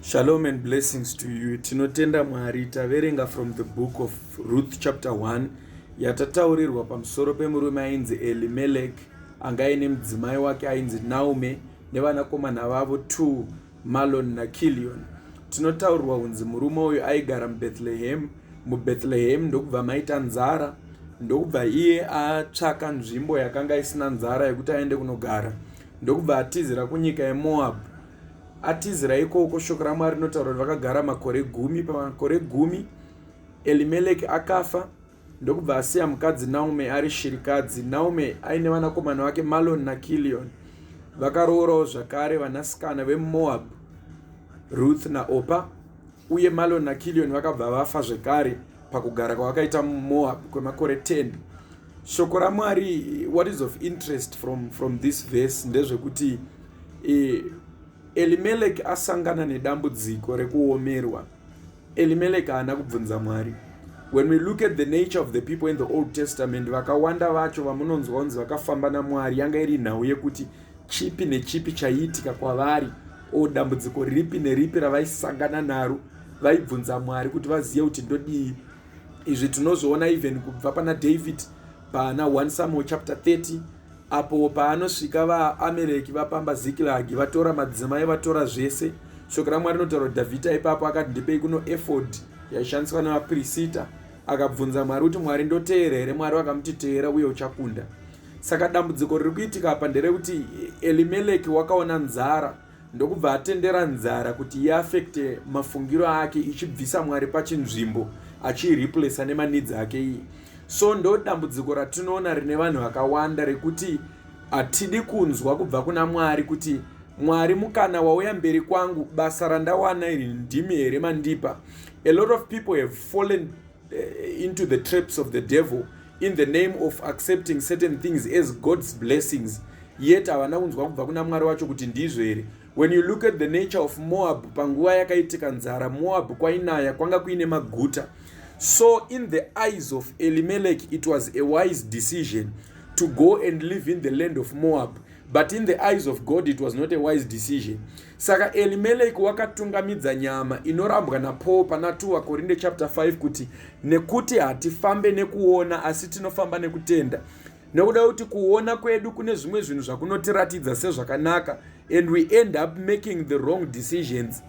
Shalom and blessings to you. Tinotenda Mwari taverenga from the book of Ruth chapter 1 yatataurirwa pamusoro pemurume ainzi Elimelech anga aine mudzimai wake ainzi Naume nevanakomana vavo two Malon naKilion. Tinotaurirwa kunzi murume uyu aigara muBethlehem. MuBethlehem ndokubva maita nzara ndokubva iye atsvaka nzvimbo yakanga isina nzara yekuti aende kunogara ndokubva atizira kunyika yeMoab Atizira ikoko, shoko raMwari rinotaura kuti vakagara makore gumi. Pamakore gumi Elimeleki akafa ndokubva asiya mukadzi Naume ari shirikadzi. Naume aine vanakomana vake Maloni naKilioni. Vakaroorawo zvakare vanasikana veMoabhu, Ruth naOpa, uye Maloni naKilioni vakabva vafa zvekare pakugara kwavakaita muMoabhu kwemakore 10. shoko ramwari what is of interest from, from this verse ndezvekuti eh, elimeleki asangana nedambudziko rekuomerwa elimeleki haana kubvunza mwari when we look at the nature of the people in the old testament vakawanda vacho vamunonzwa kunzi vakafamba namwari yanga iri nhau yekuti chipi nechipi chaiitika kwavari o dambudziko ripi neripi ravaisangana naro vaibvunza mwari kuti vazive kuti ndodii izvi tinozviona even kubva pana david pana 1 samuel chapter 30 apo paanosvika vaamereki vapamba zikilagi vatora madzimai vatora zvese shoko ramwari rinotaura kuti dhavhidha ipapo akati ndipei kuno efod yaishandiswa nemapirisita akabvunza mwari kuti mwari ndoteera here mwari vakamuti teera uye uchakunda saka dambudziko riri kuitika apa nderekuti elimeleki wakaona nzara ndokubva atendera nzara kuti iaffecte mafungiro ake ichibvisa mwari pachinzvimbo achiireplacer nemanidzi ake iyi so ndodambudziko ratinoona rine vanhu vakawanda rekuti hatidi kunzwa kubva kuna mwari kuti mwari mukana wauya mberi kwangu basa randawana iri ndimi here mandipa a lot of people have fallen eh, into the traps of the devil in the name of accepting certain things as god's blessings yet havana kunzwa kubva kuna mwari wacho kuti ndizvo here when you look at the nature of moab panguva yakaitika nzara moab kwainaya kwanga kuine maguta so in the eyes of elimelech it was a wise decision to go and live in the land of moab but in the eyes of god it was not a wise decision saka elimeleki wakatungamidza nyama inorambwa napaul pana 2 vakorinde chapter 5 kuti nekuti hatifambe nekuona asi tinofamba nekutenda nekuda kuti kuona kwedu kune zvimwe zvinhu zvakunotiratidza sezvakanaka and we end up making the wrong decisions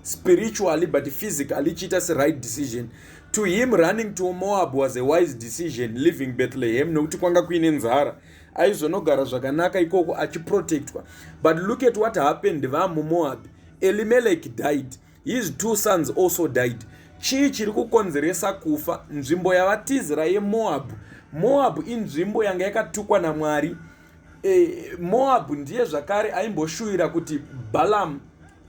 spiritually but physically ichiita seright decision to him running to moab was a wise decision living bethlehem nekuti kwanga kuine nzara mm. aizonogara zvakanaka ikoko achiprotectwa but look at what happened vamumoab elimelech died his two sons also died chii chiri kukonzeresa kufa nzvimbo yavatizira yemoab moab inzvimbo yanga yakatukwa namwari e, moab ndiye zvakare aimboshuvira kuti balam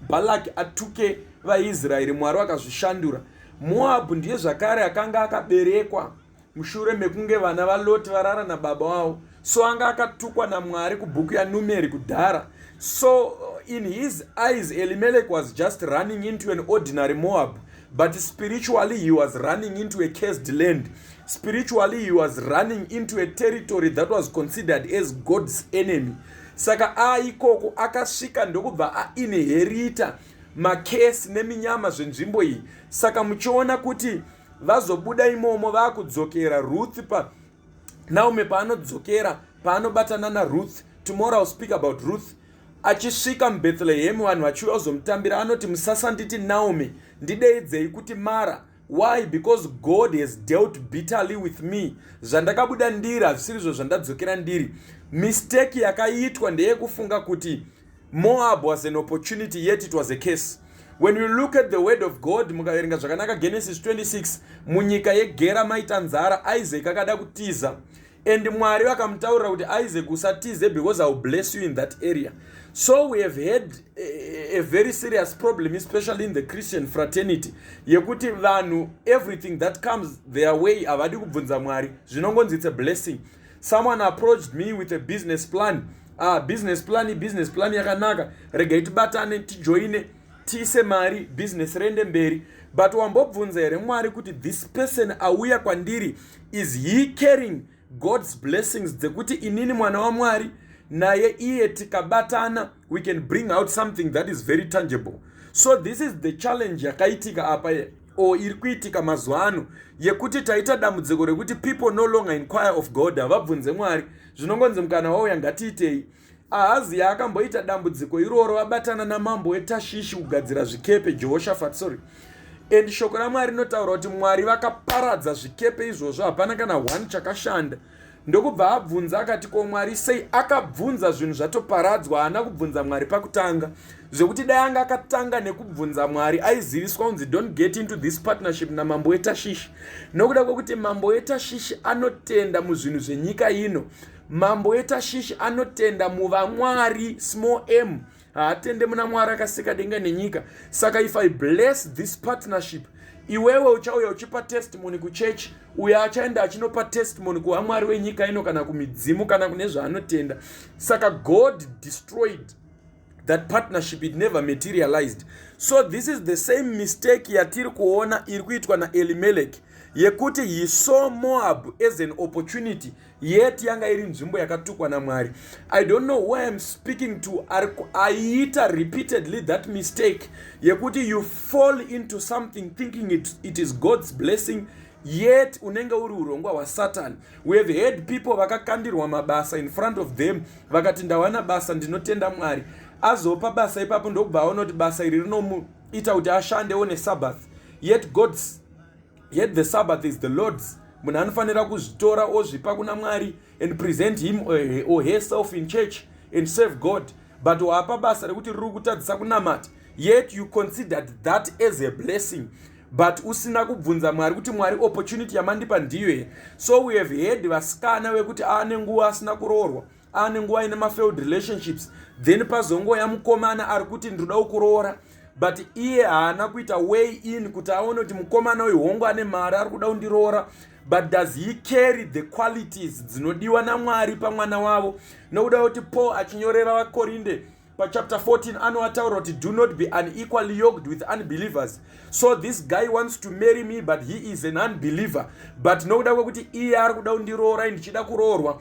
balak atuke vaisraeri mwari vakazvishandura moab ndiye zvakare akanga akaberekwa mushure mekunge vana valoti varara nababa wavo so anga akatukwa namwari kubhuku yanumeri kudhara so in his eyes elimelek was just running into an ordinary moab but spiritually he was running into a cased land spiritually he was running into a territory that was considered as god's enemy saka aikoko akasvika ndokubva ainherita makesi neminyama zvenzvimbo iyi saka muchiona kuti vazobuda imomo vakudzokera ruth pa naume paanodzokera paanobatana naruth tomorrow ill speak about ruth achisvika mubethlehemu vanhu vachiuya kuzomutambira anoti musasanditi naume ndideidzei kuti mara why because god has dealt bitterly with me zvandakabuda ndiri hazvisirizvo zvandadzokera ndiri misteki yakaitwa ndeyekufunga kuti Moab was an opportunity yet it was a case. When you look at the word of God mukaverenga zvakanaka Genesis 26 munyika yegera maita nzara Isaac akada kutiza and Mwari vakamutaurira kuti Isaac usatize because I will bless you in that area. So we have had a, a very serious problem especially in the Christian fraternity yekuti vanhu everything that comes their way havadi kubvunza Mwari zvinongonzi it's a blessing someone approached me with a business plan ah, business plan business plan yakanaka regai tibatane tijoine tiise mari business rende mberi but wambobvunza here mwari kuti this person auya kwandiri is he caring god's blessings dzekuti inini mwana wamwari naye iye tikabatana we can bring out something that is very tangible so this is the challenge yakaitika apa ye or iri kuitika mazuva ano yekuti taita dambudziko rekuti people no longer inquire of god havabvunze mwari zvinongonzi mukana wauya ngatiitei ahazi yaakamboita dambudziko iroro vabatana namambo wetashishi kugadzira zvikepe jehoshafat sorry and shoko ramwari rinotaura kuti mwari vakaparadza zvikepe izvozvo hapana kana one chakashanda ndokubva abvunza akati ko mwari sei akabvunza zvinhu zvatoparadzwa haana kubvunza mwari pakutanga zvekuti dai anga akatanga nekubvunza mwari aiziviswa kunzi don't get into this partnership namambo wetashishi nokuda kwekuti mambo wetashishi anotenda muzvinhu zvenyika ino mambo wetashishi anotenda muvamwari small m haatende muna mwari akasika denga nenyika saka if i bless this partnership iwewe uchauya uchipa testimony kuchechi uyo achaenda achinopa testimony kuvamwari wenyika ino kana kumidzimu kana kune zvaanotenda saka god destroyed that partnership it never materialized so this is the same mistake yatiri kuona iri kuitwa naelimeleki yekuti he saw moab as an opportunity yet yanga iri nzvimbo yakatukwa namwari i don't know who iam speaking to aiita repeatedly that mistake yekuti you fall into something thinking it, it is god's blessing yet unenge uri urongwa hwasatani we have heard people vakakandirwa mabasa in front of them vakati ndawana basa ndinotenda mwari azopa basa ipapo ndokubva aona kuti basa iri rinomuita kuti ashandewo nesabbath yet god's yet the sabbath is the lord's munhu anofanira kuzvitora ozvipa kuna mwari and present him eh, or herself in church and serve god but waapa basa rekuti riri kutadzisa kunamata yet you considered that as a blessing but usina kubvunza mwari kuti mwari opportunity yamandipa ndiyo here so we have heard vasikana vekuti aane nguva asina kuroorwa ane nguva aine mafailed relationships then pazongoya mukomana ari kuti ndinoda kukuroora but iye haana kuita way in kuti aone kuti mukomana uyu hongu ane mari ari kuda kundiroora but does he carry the qualities dzinodiwa namwari pamwana wavo nokuda kuti paul achinyorera vakorinde pachapter 14 anoataura kuti do not be unequally yoked with unbelievers so this guy wants to marry me but he is an unbeliever but nokuda kwekuti iye ari kuda kundiroora ndichida kuroorwa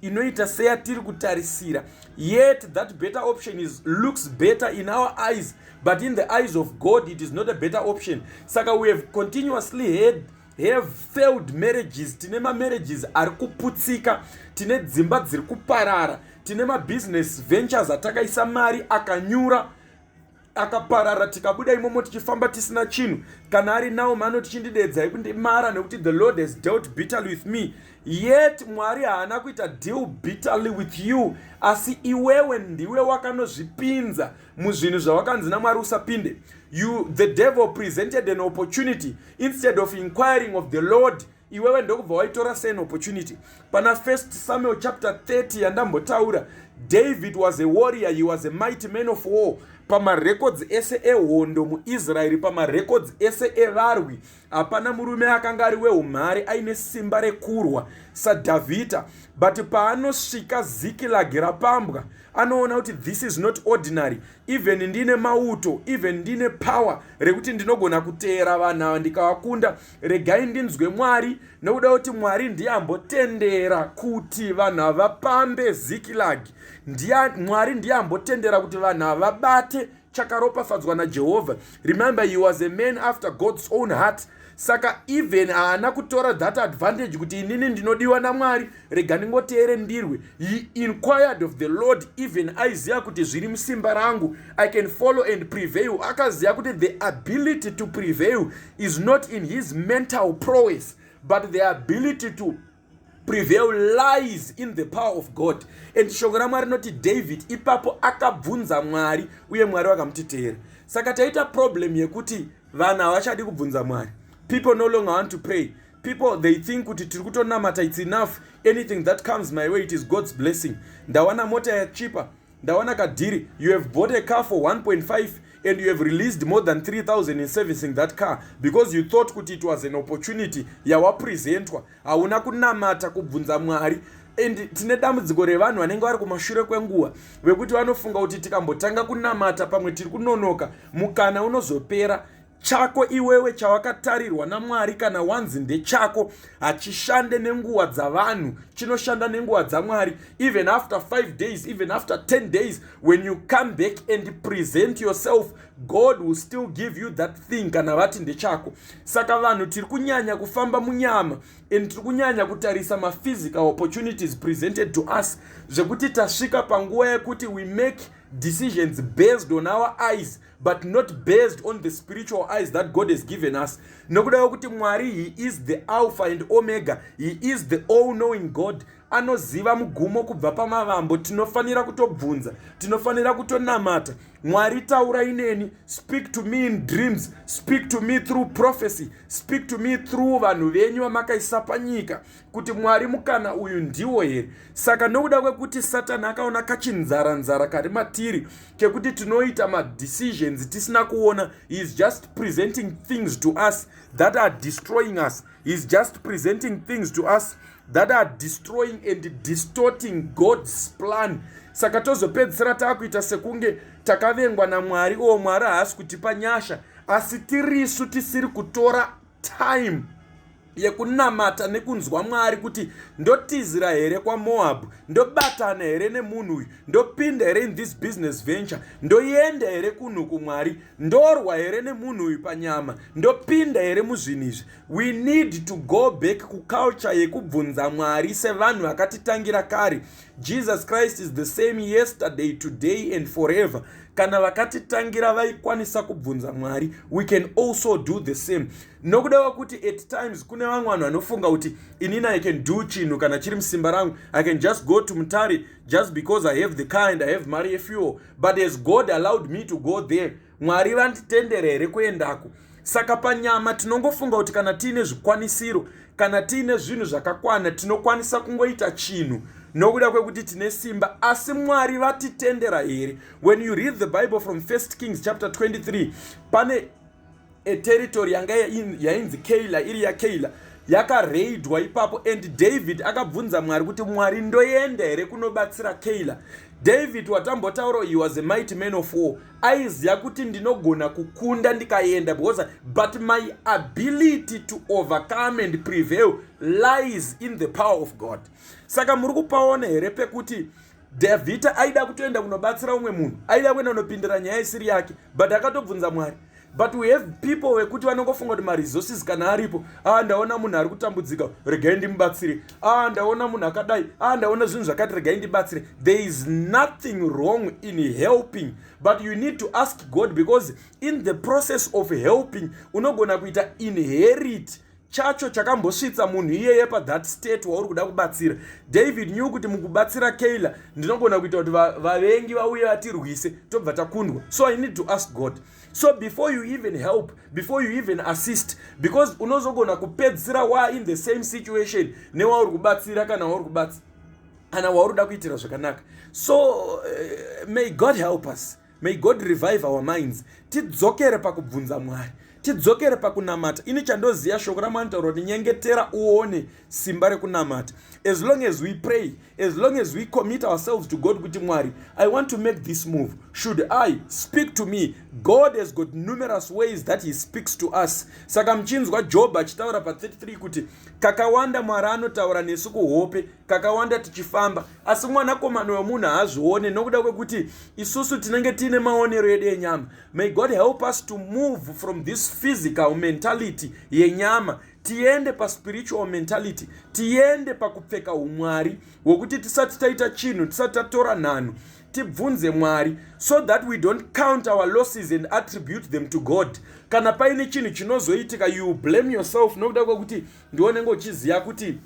inoita seyatiri kutarisira yet that better option is looks better in our eyes but in the eyes of god it is not a better option saka we have continuously had have failed marriages tine mamarriages ari kuputsika tine dzimba dziri kuparara tine mabusiness ventures atakaisa mari akanyura akaparara tikabuda imomo tichifamba tisina chinhu kana ari naomi anoti chindideedzai kundimara nekuti the lord has dealt bitterly with me yet mwari haana kuita deal bitterly with you asi iwewe ndiwe wakanozvipinza muzvinhu zvawakanzi namwari usapinde you the devil presented an opportunity instead of inquiring of the lord iwewe ndokubva waitora sean opportunity pana first samuel chapter 30 yandambotaura david was a warrior he was a mighty man of war pamarekodzi ese ehondo muisraeri pamarekodzi ese evarwi hapana murume akanga ari weumhare aine simba rekurwa sadhavhidha but paanosvika zikilagi rapambwa anoona kuti this is not ordinary even ndine mauto even ndine power rekuti ndinogona kuteera vanhu ava ndikavakunda regai ndinzwe mwari nekuda kuti mwari ndiye ambotendera kuti vanhu havapambe zikilagi mwari ndiye ambotendera kuti vanhu havabate chakaropafadzwa najehovha remember he was a man after god's own heart saka even haana kutora that advantage kuti inini ndinodiwa namwari rega ndingoteere ndirwe he inquired of the lord even aiziva kuti zviri musimba rangu i can follow and prevail akaziva kuti the ability to prevail is not in his mental prowess but the ability to prevail lies in the power of god and shoko ramwari rinoti david ipapo akabvunza mwari uye mwari vakamuti teera saka taita problem yekuti vanhu havachadi kubvunza mwari people no longer want to pray people they think kuti tiri kutonamata its enough anything that comes my way it is god's blessing ndawana mota yachipa Ndaona kadhiri you have bought a car for 1.5 and you have released more than 3000 in servicing that car because you thought kuti it was an opportunity yawapresentwa hauna kunamata kubvunza mwari and tine dambudziko revanhu vanenge vari kumashure kwenguva vekuti vanofunga kuti tikambotanga kunamata pamwe tiri kunonoka mukana unozopera chako iwewe chawakatarirwa namwari kana wanzi ndechako hachishande nenguva dzavanhu chinoshanda nenguva dzamwari even after five days even after 10 days when you come back and present yourself god will still give you that thing kana vati ndechako saka vanhu tiri kunyanya kufamba munyama and tiri kunyanya kutarisa maphysical opportunities presented to us zvekuti tasvika panguva yekuti we make decisions based on our eyes but not based on the spiritual eyes that god has given us nokuda kwekuti mwari he is the alpha and omega he is the all knowing god anoziva mugumo kubva pamavambo tinofanira kutobvunza tinofanira kutonamata mwari taura ineni speak to me in dreams speak to me through prophecy speak to me through vanhu venyu vamakaisa panyika kuti mwari mukana uyu ndiwo here saka nokuda kwekuti satani akaona kachinzaranzara kari matiri kekuti tinoita madecisions tisina kuona heis just presenting things to us that are destroying us heis just presenting things to us that are destroying and distorting god's plan saka tozopedzisira taakuita sekunge takavengwa namwari oo mwari haasi kutipa nyasha asi tirisu tisiri kutora time yekunamata nekunzwa mwari kuti ndotizira here kwamoabhu ndobatana here nemunhu uyu ndopinda here in this business venture ndoenda here kunhu kumwari ndorwa here nemunhu uyu panyama ndopinda here muzvinhu izvi we need to go back kuculture yekubvunza mwari sevanhu vakatitangira kare jesus christ is the same yesterday today and forever kana vakatitangira vaikwanisa kubvunza mwari we can also do the same nokuda kwekuti at times kune vamwe vanhu vanofunga kuti inini i can do chinhu kana chiri musimba rangu i can just go to mutari just because i have the car and i have mari yefuel but as god allowed me to go there mwari vanditendere here kuendako saka panyama tinongofunga kuti kana tiine zvikwanisiro kana tiine zvinhu zvakakwana tinokwanisa kungoita chinhu nokuda kwekuti tine simba asi mwari vatitendera here when you read the bible from 1 kings chapter 23 pane a territory yanga yainzi keila iri yakeila yakareidwa ipapo and david akabvunza mwari kuti mwari ndoenda here kunobatsira keila david watambotaura he was a mighty man of war aiziva kuti ndinogona kukunda ndikaenda because but my ability to overcome and prevail lies in the power of god saka muri kupaona here pekuti davhita aida kutoenda kunobatsira umwe munhu aida kuenda kunopindira nyaya isiri yake but akatobvunza mwari but we have people vekuti vanongofunga kuti maresources kana aripo a ah, ndaona munhu ari kutambudzika regai ndimubatsire a ah, ndaona munhu akadai a ah, ndaona zvinhu zvakati regai ndibatsire there is nothing wrong in helping but you need to ask god because in the process of helping unogona kuita inherit chacho chakambosvitsa munhu iyeye pathat state wauri kuda kubatsira david new kuti mukubatsira keyla ndinogona kuita kuti vavengi vauye vatirwise tobva takundwa so i need to ask god so before you even help before you even assist because unozogona kupedzisira wa in the same situation newauri kubatsira kana wauri kubatsira kana wauri kuda kuitira zvakanaka so uh, may god help us May God revive our minds. Tidzokere pakubvunza Mwari. Tidzokere pakunamata. Ini chandoziya shoko raMwari tauro rinyengetera uone simba rekunamata. As long as we pray, as long as we commit ourselves to God kuti Mwari, I want to make this move. Should I speak to me? God has got numerous ways that he speaks to us. Saka mchinzwa Job achitaura pa 33 kuti kakawanda Mwari anotaura nesu kuhope, kakawanda tichifamba, asi mwanakomana wemunhu haazvione nokuda kwekuti isusu tinenge tiine maonero edu enyama may god help us to move from this physical mentality yenyama tiende paspiritual mentality tiende pakupfeka umwari hwekuti tisati taita chinhu tisati tatora nhanhu tibvunze mwari so that we don't count our losses and attribute them to god kana paine chinhu chinozoitika you blame yourself nokuda kwekuti ndiwonenge uchiziva kuti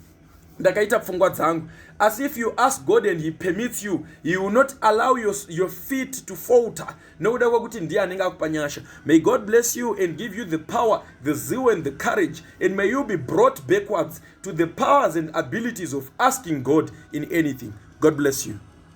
ndakaita pfungwa dzangu asi if you ask god and he permits you he will not allow your, your feet to falter nokuda kwekuti ndiye anenge akupa nyasha may god bless you and give you the power the zeal and the courage and may you be brought backwards to the powers and abilities of asking god in anything god bless you